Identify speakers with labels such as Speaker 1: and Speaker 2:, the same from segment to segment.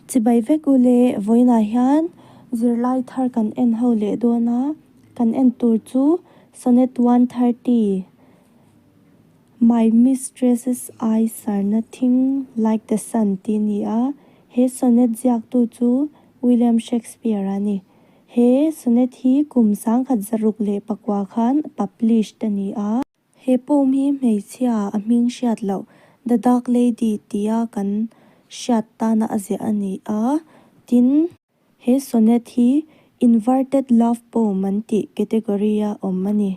Speaker 1: Chibai vek u le, vawiinah hian zirlai thar kan en ho leh dawn a, kan en tur chu Sonnet one thirty, My mistress's eyes are nothing like the sun tih ni a, he sonnet ziaktu chu William Shakespeare a ni. He sonnet hi kum sangkhat zaruk leh pakua khan published a ni a. He poem hi hmeichhia a hming hriat loh The Dark Lady tia kan hriat tana a ziah a ni a, tin, he sonnet hi Inverted Love Poem an tih category a awm a ni.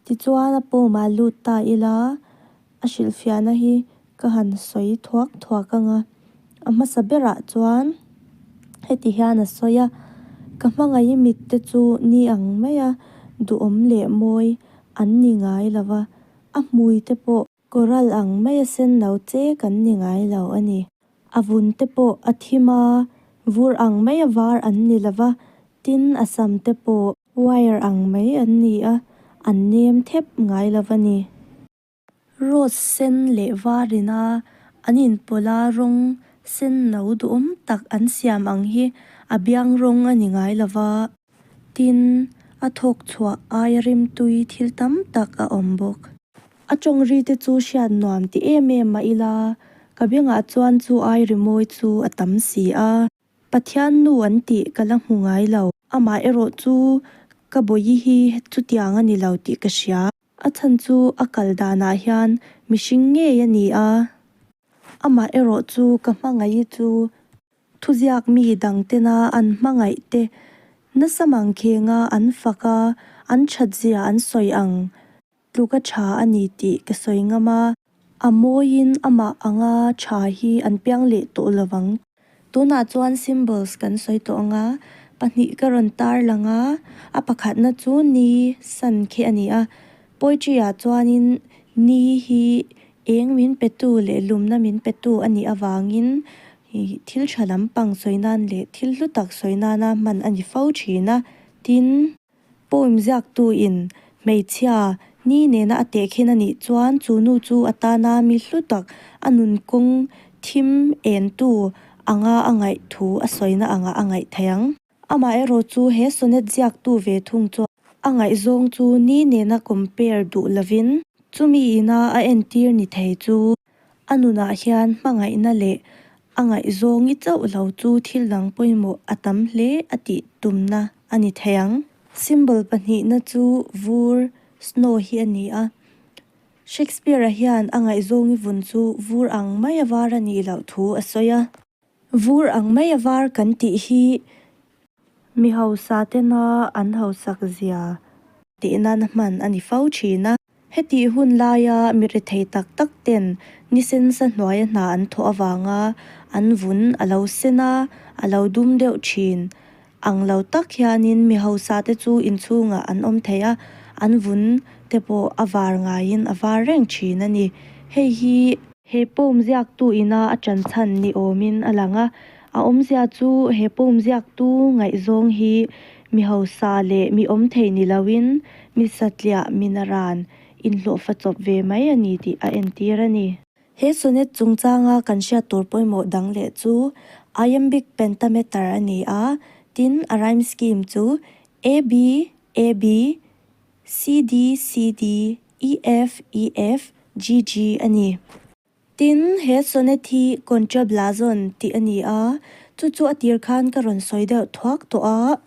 Speaker 1: Tichuan a poem-a lut ta ila a hrilhfiahna hi Ka han sawi thuak thuak ang a. A hmasa berah chuan heti hian a sawi a, Ka hmangaih mitte chu ni ang mai a, duhawm leh mawi an ni ngai lo va, a hmui te pawh. Coral ang mai a senno che kan ni ngai lo a ni. A vun te pawh a thim a, vur ang mai a var an ni lo va, tin a sam te pawh. Wire ang mai an ni a, an nem thep ngai lo va ni. Rose sen leh varin a an inpawlh a, rawng senno duhawm tak an siam ang hi a biang rawng a ni ngai lo va, tin, a thawk chhuah ai rimtui thil tam tak a awm bawk. A tawng ri te chu hriat nuam ti em em a ila, ka bengah chuan chu ai rimawi chu a tam si a, Pathian nu an tih ka la hmu ngai lo, amaherawhchu ka bawihi chutiang a ni lo tih ka hria. A chhan chu a kal danah hian mihring ngei a ni a, amah erawh chu ka hmangaih hi chu thuziak mi dangtena an hmangaih te nasa mang khenga an fak a, an thatzia an sawi ang tluka tha a ni tih ka sawi ngam a. A mawiin amah anga tha hi an piang leh tawh lo vang. Tunah chuan symbols kan sawi tawh ang a, pahnih ka rawn tar lang a, a pakhatna chu ni, sun, khi a ni a. Poetry ah chuanin ni hi eng min petu leh lumna min petu a nih avangin thil tha lampang sawi nan leh thil hlu tak sawi nana hman a ni fo thin a. Tin. Poem ziaktu in hmeichhia ni nena a teh khin a nih chuan chu nu chu a tana mi hlu tak a nun kawng thim en tu anga a ngaih thu a sawina angah a ngaih thei ang. Amah erawh chu he sonnet ziaktu ve thung chuan a ngaih zawng chu ni nena compare duh lovin chumi ina a entir ni thei chu A nunah hian hmangaihna leh a ngaihzawng ngi chauh lo chu thil dang pawimawh a tam hle a tih tumna a ni thei ang. Symbol pahnihna chu vur, snow, hi a ni a. Shakespeare-a hian a ngaihzawng i vun chu vur ang mai a var a nih loh thu a sawi a. Vur ang mai a var kan tih hi mi hausa tena an hausak zia tih nan hman a ni fo thin a. Heti hun laia mi rethei tak tak ten nisensa hnuaia hna an thawh avanga an vun a lo sen a, a lo dum deuh thin. Ang lo tak hianin mi hausate chu inchhungah an awm thei a, an vun te pawh a var ngaiin a var reng thin a ni. Hei hi. He pawm ziaktu ina a ṭan chhan ni awmin a lang a, a awmzia chu he pawm ziaktu ngaihzawng hi mi hausa leh mi awm thei ni loin mi satliah mina ran inhlawhfa chawp ve mai a ni tih a entir a ni. He sonnet chungchanga kan hriat tur pawimawh dang leh chu iambic pentameter a ni a, tin a rhyme scheme chu A B A B C D C D E F E F G G a ni. Tin, he sonnet hi contrablason tih a ni a, chu chu a tir khan ka rawn sawi deuh thuak tawh a.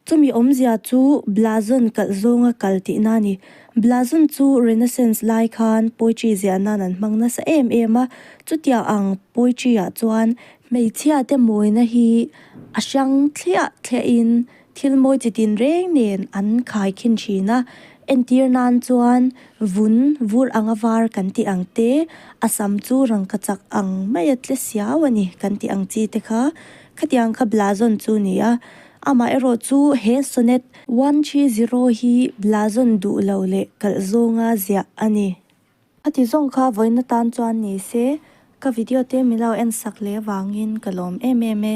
Speaker 1: Chumi awmzia chu Blazon kalh zawnga kal tihna a ni. Blazon chu Renaissance lai khan poetry ziah nan an hmang nasa em em a, chutiang ang poetry ah chuan, hmeichhia te mawina hi a hrang thliah thliah in thil mawi chi tin reng nen an khai khin thin a, entir nan chuan vun vur anga var kan tih ang te, a sam chu rangkachak ang maia tle siau a ni kan tih ang chi te kha khatiang kha Blazon chu ni a, Amaherawh chu he sonnet one three zero hi blazawn duh lo leh kalh zawnga ziah a ni. A ti zawng kha vawina tan chuan ni se, ka video te milo en sak leh vangin ka lawm em em e.